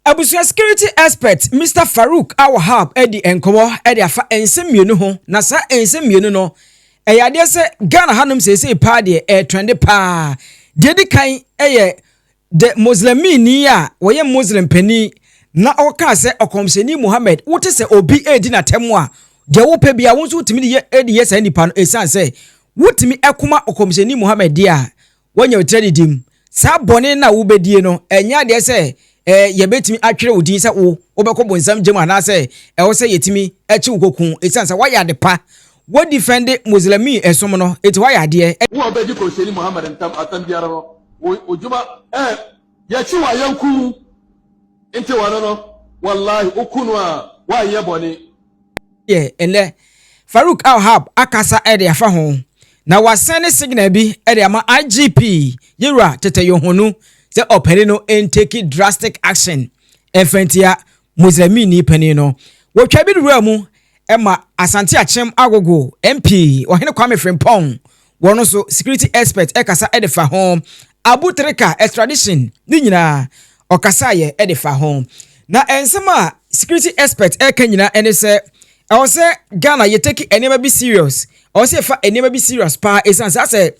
Abusua security expert Mister Farouk Al-Wahab adi nkɔmmɔ de afa nsɛm mmienu ho, na saa nsɛm mmienu no, ɛyɛ adeɛ sɛ Ghana hanom seesei paa deɛ ɛretrɛnde paa. Deɛ ɛdi kan yɛ the Muslimini a wɔyɛ Muslim panin na ɔkaa sɛ Ɔkɔmhyɛni Muhammad, wote sɛ obi redi n'atam a, deɛ wopɛ biara wo nso wotumi de yɛ de yɛ saa nipa no ɛsiane sɛ wotumi koma Ɔkɔmhyɛni Muhammad deɛ a, Woanya wo tiri adidi mu. Saa bɔne no a wobɛdie no, ɛnyɛ adeɛ sɛ yɛbɛtumi atwerɛ wo din sɛ wo, wobɛkɔ bonsam gya mu anaasɛ ɛwɔ sɛ yɛtumi kye wo kɔku wo ɛsiane sɛ woayɛ ade pa, wodifɛnde Moslɛmi som no, enti woayɛ adeɛ. Wo a wobɛdi Kɔmhyɛni Muhammad ntam asɛm biara no, wo dwuma ɛɛ. Yɛkyi wa yɛnku mu nti wɔno no wallahi woku no a wanyɛ bɔne. Deɛ ɛnnɛ Farouk Al-Hab akasa de afa ho na wasen ne signal bi de ama IGP Yewura Tete Yohonu sɛ ɔpani no ntake drastic action mfa ntia Misraimni panin no. Wɔtwaa bi de wuraa mu ma Asante Akyem Agogo, MP, Ɔhene Kwame Frimpong, wɔn nso security expert kasa de fa ho, Abu Trika extradition, ne nyinaa ɔkasaeɛ de fa ho. Na nsɛm a security expert reka nyinaa ne sɛ ɛwɔ sɛ Ghana yɛtaki nneɛma bi serious, ɛwɔ sɛ yɛfa nneɛma bi serious paa ɛsiane saa sɛ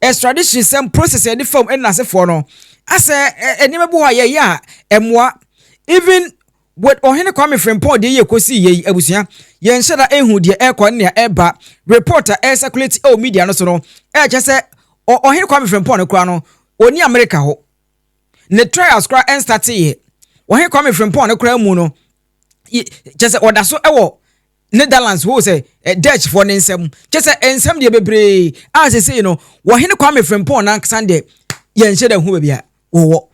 extradition sɛm process ɛde fam ɛna asefoɔ no asɛ nneɛma bi hɔ a yɛyɛ a ɛmoa even with ɔhene kwame frimpong deɛ yɛ kɔsi yɛ yi abusua yɛnhyɛ da ehu deɛ ɛkɔ ne nea ɛba report a ɛsɛkulate ɛwɔ media no so no ɛkyɛ sɛ ɔhene kwame frimpong no koraa no oni america hɔ ne trials koraa ɛnstate yɛ ɔhene kwame frimpong no koraa mu no kyɛ sɛ ɔda so ɛwɔ Netherlands hoo sɛ Dutchfoɔ no nsam, kyɛ sɛ nsam deɛ bebree a sesei no wɔhene Kwame Frimpong no ankasa deɛ yɛnhyɛ da hu baabi a wɔwɔ.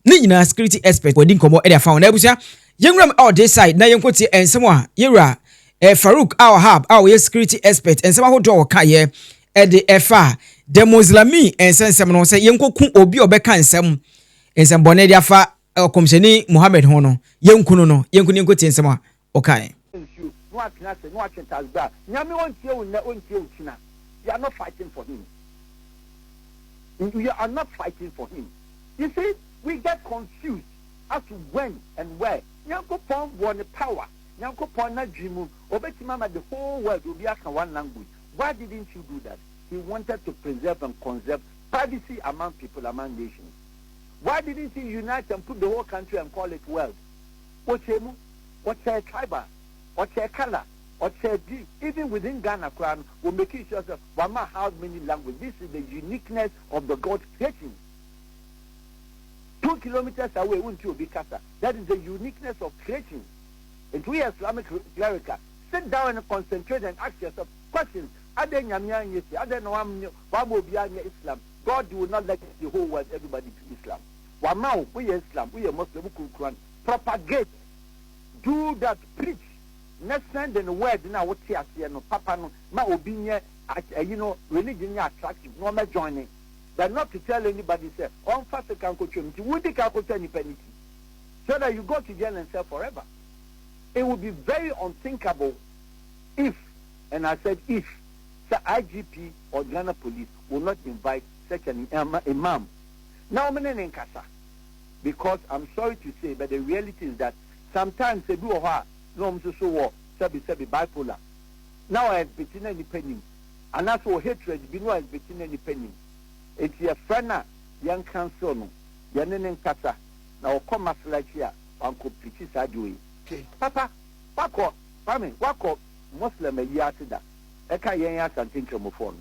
Ne nyinaa security expert wɔadi nkɔmmɔ de afa ho. Na abusua, yɛnwura mu ɔde side na yɛnkɔtie nsɛm a yɛwura eh, Farouk Al-Wahab a wɔyɛ security expert nsɛm ahodoɔ a wɔkaeɛ de ɛfa the Moslami nsɛnsɛm no sɛ yɛnkɔku obi a ɔbɛka nsɛm nsɛmbɔne de afa ɔkɔmhyɛni Muhammad ho no yɛnkunu no yɛnkunu yɛnkɔtie nsɛm a okae. Nsuo na watena ase na watwe tasbih a Nyame ontie wo nnɛ ontie wo kyina you are not fighting for him you are not fighting for him you see we get confused as to when and where Nyankopɔn wɔ ne power Nyankopɔn n'adwene mu obetumi ama the whole world obi aka one language why didn't you do that he wanted to preserve and conserve privacy among people among nations why didn't he unite and put the whole country and call it world wɔkyɛɛ mu, wɔkyɛɛ tribal, wɔkyɛɛ colour, wɔkyɛɛ this, even within Ghana koraa no wɔ makii sure sɛ wɔama how many language, this is the uniqueness of the God creation. Two kilometres away wonti obi kasa, that is the uniqueness of creation. Nti woyɛ Islamic cleric a, sit down and concentrate and ask yourself questions, adɛn Nyame anyɛ si, adɛn na wamma obiara nyɛ Islam, God will not let the whole world everybody to Islam. Wama wo, woyɛ Islam, woyɛ Muslim, wo kurukuran, propagate, do that, preach, na send the word no a wote aseɛ no, papa no, ma obi nyɛ at, ayi no, religion nyɛ attractive na ɔmɛ joine, but not to tell anybody sɛ ɔnfa sika nkotwam, nti wo di kan kotwa nipa no ti so that you go to jail and serve forever. It will be very unthinkable if, and I said if, sɛ IGP or Ghana police will not invite such an imam, na wɔn ne ne nkasa because am sorry to say but the reality is that sometimes ebi wɔ hɔ a na wɔn nso so wɔ sɛbi sɛbi bipolar na wɔ exhibit na nipa nim anaasɛ wɔ hatred bi na wɔ exhibit na nipa nim eti yɛ frɛ na yɛn counsel no yɛn ne ne nkasa na ɔkɔ masala akyi a wankɔ preachi saa deɛ oye. Papa wakɔ pame wakɔ Muslim ayi ase da ɛka yɛn Asante Nkramofoɔ no.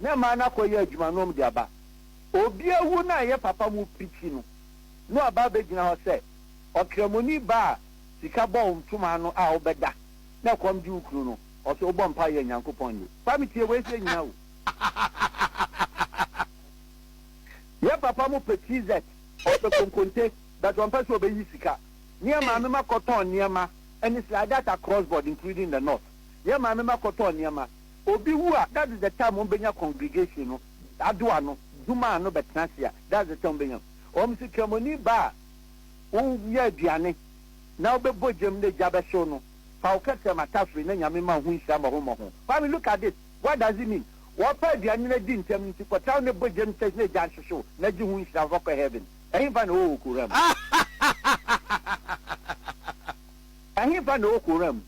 na ɛmaa no akɔyɛ adwuma na wɔde aba. Obi awu na ɛyɛ papa mu pirikyi no, na waba abɛgyina hɔ sɛ ɔkramoni ba a sika bɔ wo ntoma ano a wobɛda na ɛkɔm gye wo kunu no, ɔsɛ wobɔ mpaeɛ yɛ Nyankopɔn ye. Kwame, tie wei sɛ nyina o. Yɛ papa mo pɛ TZ, ɔpɛ konkonte but ɔmpɛ sɛ ɔbɛyi sika. Ne yɛ maame ma kɔtɔn nneɛma ɛne sliders across board including the north. Yɛ maame ma kɔtɔn nneɛma. Obi wu a, that's the time wɔn bɛnya congregation no adoa no, dwuma ano bɛtena ase a, that's the time wɔn bɛnya. Wɔn se Kramoni ba a wonya aduane na wobɛbɔ gyam na gya bɛhyew no, fa wo kɛtɛ ma tafere na Nyame mma wo ho nhyira mmɔho mmɔho. Kwame look at this, what does it mean? Wɔpɛ aduane no adi ntɛm nti kɔtra wo na bɔ gyam church na gya nhyehye wo na gye ho nhyira fa kɔ heaven. Ɛhefa na ɔwɔ Koran mu? Ɛhefa na ɔwɔ Koran mu?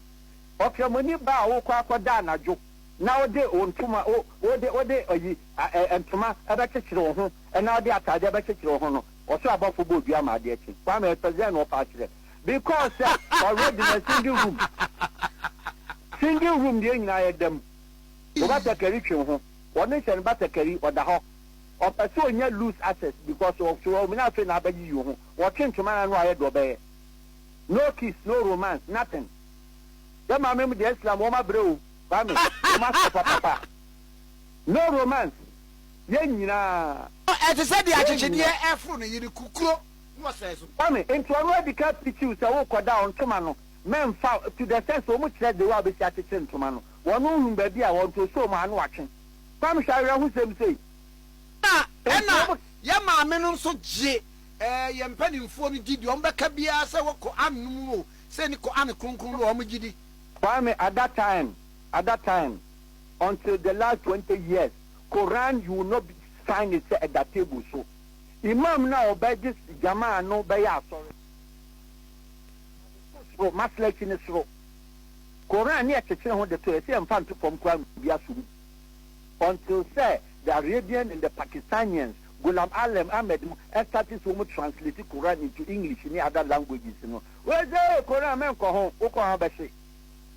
Ɔkramoni ba a wokɔ akɔda anadwo na wode wo ntoma, wo, wode, wode ayi, a, ɛ, ntoma bɛkyekyere wo ho na wode atadeɛ bɛkyekyere wo ho no, ɔsoro abɔfo bɔɔ dua maa adeɛ kye. Kwame, ɛsɛ dɛn na ɔfa akyerɛ? Because sɛ, already na singing room, singing room deɛ nyinaa yɛ da mu. Wo batakari twe wo ho, ɔno nhyɛ ne batakari, ɔda hɔ. Ɔpɛ sɛ ɔnya loose access because ɔ, so ɔmene afei na abɛyiyi wo ho. Ɔtwe ntoma no a na wayɛ deɛ ɔbɛyɛ. No kiss, no romance, nothing. Sɛ maame mo deɛ Islam wɔn abrɛ o Kwame wɔn asɔ papapa no romance yɛn nyinaa. No ɛte sɛ deɛ akyekyedeɛ ɛforo ne yere kukuro na ɔsɛe so. Kwame nti ɔno adika preachiw sɛ wo kɔda ɔntoma no mɛnfa to the sense wɔn kyerɛ the way a wobɛsi akyekyere ntoma no wɔn nhunu baabi a wɔn to so wɔn ano atwe Kwame hwɛ awerɛhosɛm sei Ɛna ɛna yɛn maame nom nso gye ɛɛ yɛn mpaninfoɔ no di deɛ wɔn bɛka biara sɛ wɔkɔ anom o Sɛ ne ko ane kronkron no a wɔn gyidi. Kwame at that time at that time until the last twenty years Quran you will not be find it sɛ ɛda table so Imam no a ɔbɛ gye Jamaa no bɛyɛ asɔre Ɔde to soro Maslachi no soro Quran ne ɛkyekyere ho de to ɛsɛ yɛ nfa nto fam koraa na obi asom bi until sɛ the Arabian and the Pakistanians Ghulam Alem Ahmed no ɛstate sɛ ɔmo translate Koran into English ne other languages no. Wei sɛ ee Koran menkɔ ho, wo kɔ ho a bɛhye.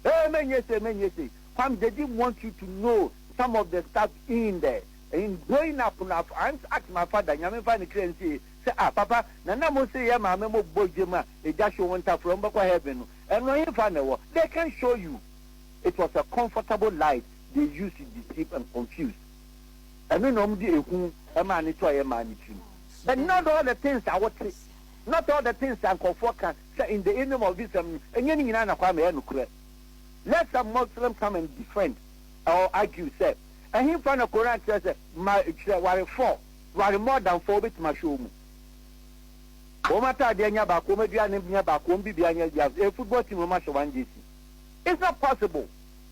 Ee menyɛ sei menyɛ sei. Kwam they didn't want you to know some of the stuff in the in growing up no I once asked my father Nyame mfa ne kra nsie sɛ ah papa na na mo se yɛ maame mo bɔ gye ma egya hye wɔn ntafra wɔn bɛkɔ heaven no ɛno hefa na ɛwɔ they can show you it was a comfortable life they used to deceive and confuse Ɛno na wɔde ehu maa ne to a ɛyɛ maa ne tirim. But not all the things a wote, not all the things a nkurɔfoɔ ka sɛ in the name of this um no, ɛnyɛ ne nyinaa na Kwame ɛyɛ nokorɛ. Let some Muslim come and defend or argue sɛ ɛhenfa na Koran kyerɛ sɛ ma kyerɛ ware four, ware more than four, wobɛtumi ahwɛ wɔn mu. Wɔn ataadeɛ nyɛ baako, wɔn aduane nyɛ baako, wɔn biribiara nyɛ baako, ɛyɛ football team na wɔahyɛ one jersey. It's not possible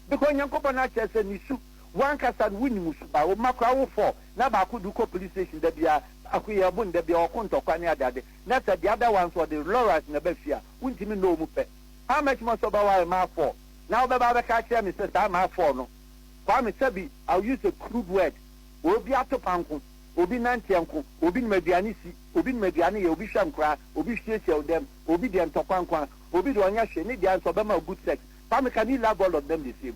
because Nyankopɔn akyerɛ sɛ ne su Wo ankasa no wonni mu su ba wo mma koraa wo fɔ na baako de wo kɔ police station da biara baako yɛ ɔbo nda biara ɔko ntɔkwa ne ade ade na sɛ the other one nso ɔde lorries na ɛba fie a wontumi nnɔ wo mu pɛ how much more sɛ wobɛware maa four na wobɛba abɛka akyerɛ me sɛ saa maa four no Kwame sɛbi I'll use a crude word obi ato pa nko obi nanteɛ nko obi nim aduane si obi nim aduane yɛ obi hwɛ nkoraa obi hwiehwie wo dɛm obi deɛ ntɔkwa nko a obi deɛ ɔnyɛ hwee ne deɛ nso ɔbɛma wo good sex Kwame can you love all of them the same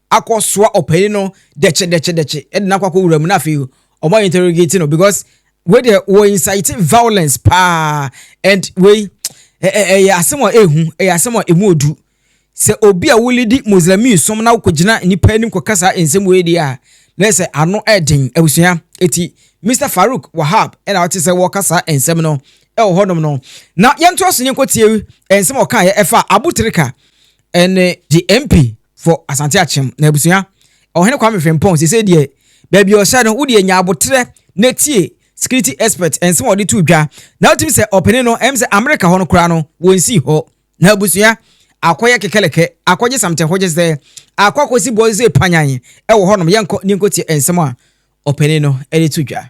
akɔ soa ɔpanyin no dɛkye dɛkye dɛkye ɛde no akɔ akɔ wura mu na afei ɔmo ayɛ interrogate no because wei deɛ wɔ incite violence paa and wei ɛyɛ asɛm a ehu ɛyɛ asɛm a emu odu sɛ obi a wuli di muslimin som na wokɔ gyina nipa anim kɔ kasa nsɛm wei deɛ a na sɛ ano ɛden abusua eti mr farouk wahab ɛna ɔte sɛ wɔka saa nsɛm no ɛwɔ hɔnom no na yɛntoa so ne nkɔtie nsɛm a ɔkaeɛ ɛfa abutirika ɛne the MP for Asante Akyem na abusua Ɔhene Kwame Frimpong sese deɛ baabi ɔhyɛ no wodeɛ nya abotrɛ na tie security expert nsɛm ɔde to dwa na wotumi sɛ ɔpene no ɛm sɛ Amerika hɔ no koraa no wɔnsii hɔ na abusua akɔyɛ kekelekɛ akɔgye samte hɔ gye sɛ akɔ akɔsi bɔɔl sɛ panyan ɛwɔ hɔ nom yɛnkɔ ne nkɔtie nsɛm a ɔpene no ɛde to dwa.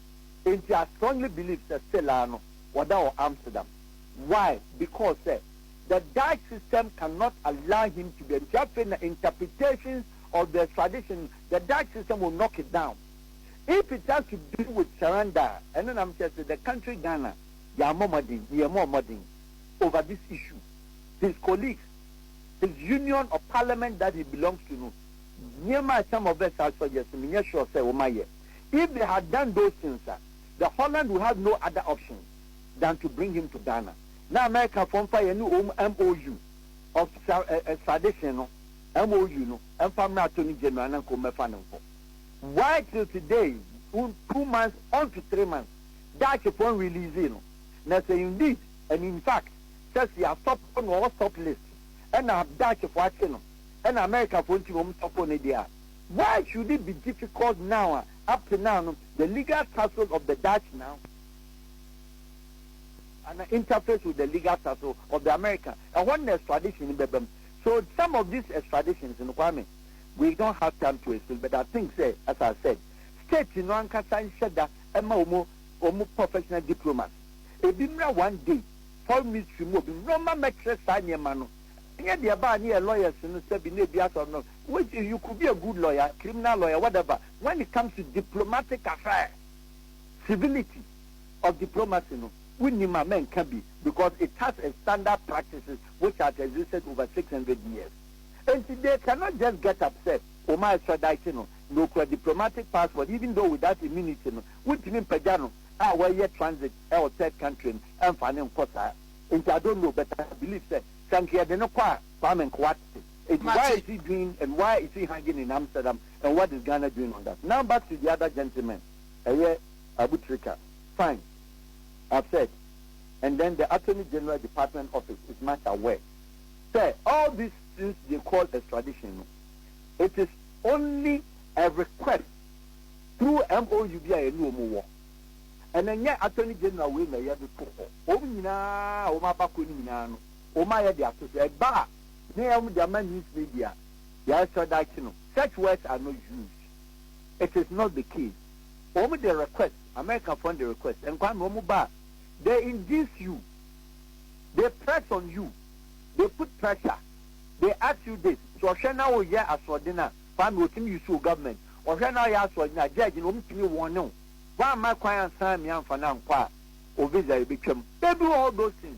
Enti I strongly believe sɛ still ara no wɔda wɔ Amsterdam. Why? Because sɛ the Dutch system cannot allow him to be a nti afei na interpretations of the extradition no the Dutch system will knock it down. If it has to do with surrender a ɛno na mekyerɛ sɛ the country Ghana yɛammɔ mmɔden, ne yɛmmɔɔ mmɔden over this issue. His colleagues, his union of parliament that he belongs to no nneɛma a some of us are suggest no menyɛ sure sɛ wɔayɛ. if they had done those things a the Holland will have no other option than to bring him to Ghana na America foɔ mfa yɛne wɔn MOU of extradition no MOU no mfa mmra attorney general na nka wɔn mɛfa no nkɔ why till today two months on to three months Dutch foɔ release no na sɛ indeed and in fact sɛ si asɔpo na ɔwɔ stop list ɛna Dutch foɔ akye no ɛna America foɔ nti na wɔn sɔpo no deɛ a Why should it be difficult now a up to now no the legal tussle of the Dutch now ana interface with the legal tussle of the American ɛhɔ na extradition no bɛba mu so some of these extraditions no Kwame we don't have time to explain but I think sɛ as I said state no ankasa nhyɛ da ɛma wɔn wɔn professional diplomats ebi mmra one day foreign ministry mu obi mmra ɔma mɛkyerɛ saa nneɛma no ɛnyɛ deɛ ɛbaa ne yɛ lawyers no sɛbi na ebi asɔ no Wait you could be a good lawyer, criminal lawyer, whatever, when it comes to diplomatic affairs, civility of diplomacy no wonim a mɛnka bi because it has a standard practices which has existed over six hundred years enti they cannot just get up sɛ wɔn extradite no na okura diplomatic passport even though without immunity no wontumi mpagya no a wɔyɛ transit ɛwɔ third country no ɛmfa ne nkɔ saa enti I don't know but I believe sɛ sɛ nka yɛde no kɔ a Kwame Nkrumah te It's why is he doing and why is he hanging in Amsterdam and what is Ghana doing on that? Now back to the other gentleman, ɛyɛ Abutrika, fine, I've said and then the Attorney General Department Office is much aware sɛ all these things they call extradition no, it is only a request through MOU bi a yɛne wɔn wɔ and ɛnyɛ Attorney General wei na ɛyɛ de to hɔ, wɔn nyinaa a wɔn abakɔ no nyinaa no wɔn ayɛ de ato so, ɛba a. He a wɔde ama news media yɛresrɛ daakye no, such words are not used, it is not the case, wɔn de request, Americafoɔ no de request, nkwame wɔn ba a, they induce you, they press on you, they put pressure, they ask you this, sɛ ɔhwɛ na woyɛ asoɔden a, kwame wɔtumi use wo government, ɔhwɛ na woyɛ asoɔden a, judge no wɔtumi wɔne wo, woamma kwan ansan me amfa no ankɔ a, wo visa yɛbɛtwam, they do all those things.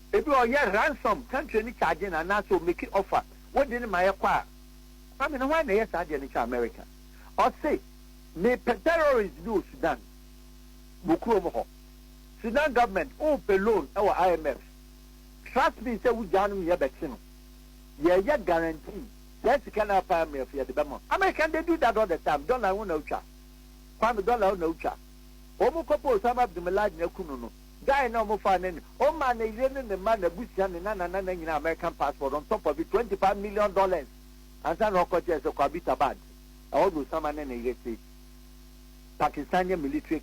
Ebi a ɔyɛ ransom country no charge no anaasɛ ɔ make offer wo de no ma yɛ kɔ a Kwame no hwan na ɛyɛ saa deɛ no kyɛ America ɔse me pɛ terrorist bi wɔ Sudan wɔ kuro mo hɔ Sudan government wo pɛ loan wɔ IMF trust me sɛ wo gyaa no meyɛ bɛ kye no yɛ yɛ guarantee saa sika no a pa IMF yɛ de bɛ ma American they do that all the time dollar wo na wo twa Kwame dollar wo na wo twa wɔn kɔ pɛ Osama Abdulmilad na aku no no. Guy no a ɔmo faa no no, ɔmaa ne yere ne ne mma, n'abusua, ne nananana nyinaa American passport on top of it, twenty five million dollars ansa na ɔkɔ kyɛɛ sɛ kɔ Abbottabad, ɛhɔ na Osama ne ne yere te, Pakistania military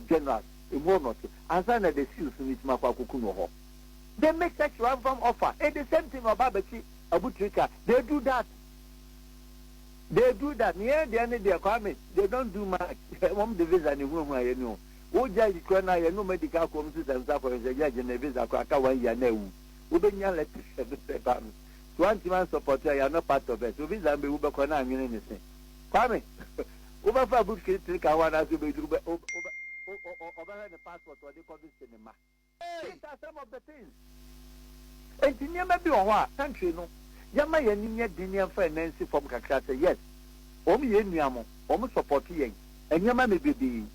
general, emu hɔ na ɔte, ansa na the seals no tumi akɔ akoku no wɔ hɔ. They make such ransom offer and the same thing na ɔba abɛkye abutirika, they do that, they do that, yɛn deɛ no deɛ Kwame, they don't do much, wɔn de visa na ehuahuaayɛ ni o. Wogyae sikura no a, yɛne wɔn adi kan akɔ wɔn sesa nsa fam sɛ, Judge, me visa koraa aka one year na awu. Wobɛnya letter sɛ me sɛ ba me. So woantumi ansupporte a, you are not part of us. So visa no bɛwu bɛkɔ na anwene ne se. Kwame, wobɛfa book kiri tiri ka ho anaasɛ wobɛhwɛ ne passport a ɔde kɔ visit ne mma? These are some of the things Enti nneɛma bi wɔ hɔ a country no yɛma yɛn ani nyɛ den yɛmfa yɛn nan nsi fam kakra sɛ yes wɔn yɛ yɛn nua mo wɔn support yɛn nneɛma mebebee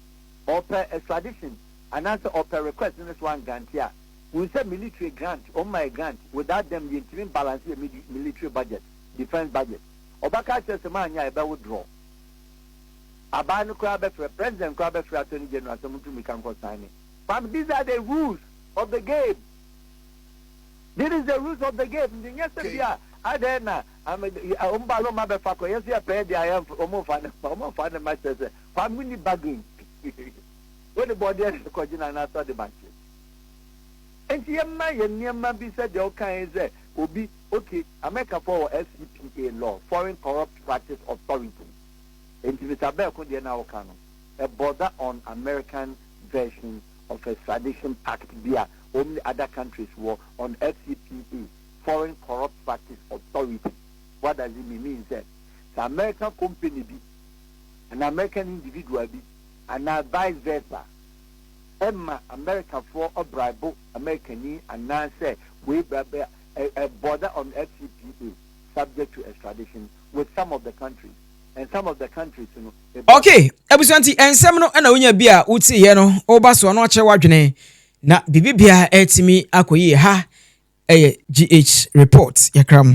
ɔpɛ extradition anaasɛ ɔpɛ request no so angrante a hun sɛ military grant wɔn ma yɛ grant without them yɛntumi balance yɛ military budget defense budget ɔbɛka akyerɛ sɛ maanyɛ a yɛbɛ withdraw abaa no koraa bɛfrɛ president koraa bɛfrɛ attorney general sɛ montumi ka nkɔ sign ne Fam These are the rules of the game This is the rules of the game nti nyɛ sɛ bi a adɛn na wɔn ba loma bɛfa kɔ yɛsɛ yɛ pɛɛ deɛ yɛ wɔn nfa ne ma wɔn nfa ne ma kyerɛ sɛ fam mu ni bargain wɔn de bɔdeɛ ne kɔgyina n'asɔ de ma kyerɛ. nti yɛma yɛ nneɛma bi sɛ deɛ ɔkan yi sɛ obi okay amerikafoɔ wɔ fcpa law foreign corrupt practice authority nti mr bɛɛko deɛ na ɔka no. a border on American version of extradition pact bi a wɔn ne other countries wɔ on FCPA, Foreign Corrupt Practice Authority. What does it mean? Mean sɛ, sɛ American company bi anaa American individual bi anaa vice versa ma Americafoɔ ɔbraibo Americani anaa sɛ wei bra bɛ a border on FCPA subject to extradition with some of the countries. Ok abusua nti nsɛm no na wonya bi a wotiiɛ no woba soɔ no akyerɛ w'adwene na biribi biara atumi akɔ yie ha ɛyɛ GH report yɛkra mu.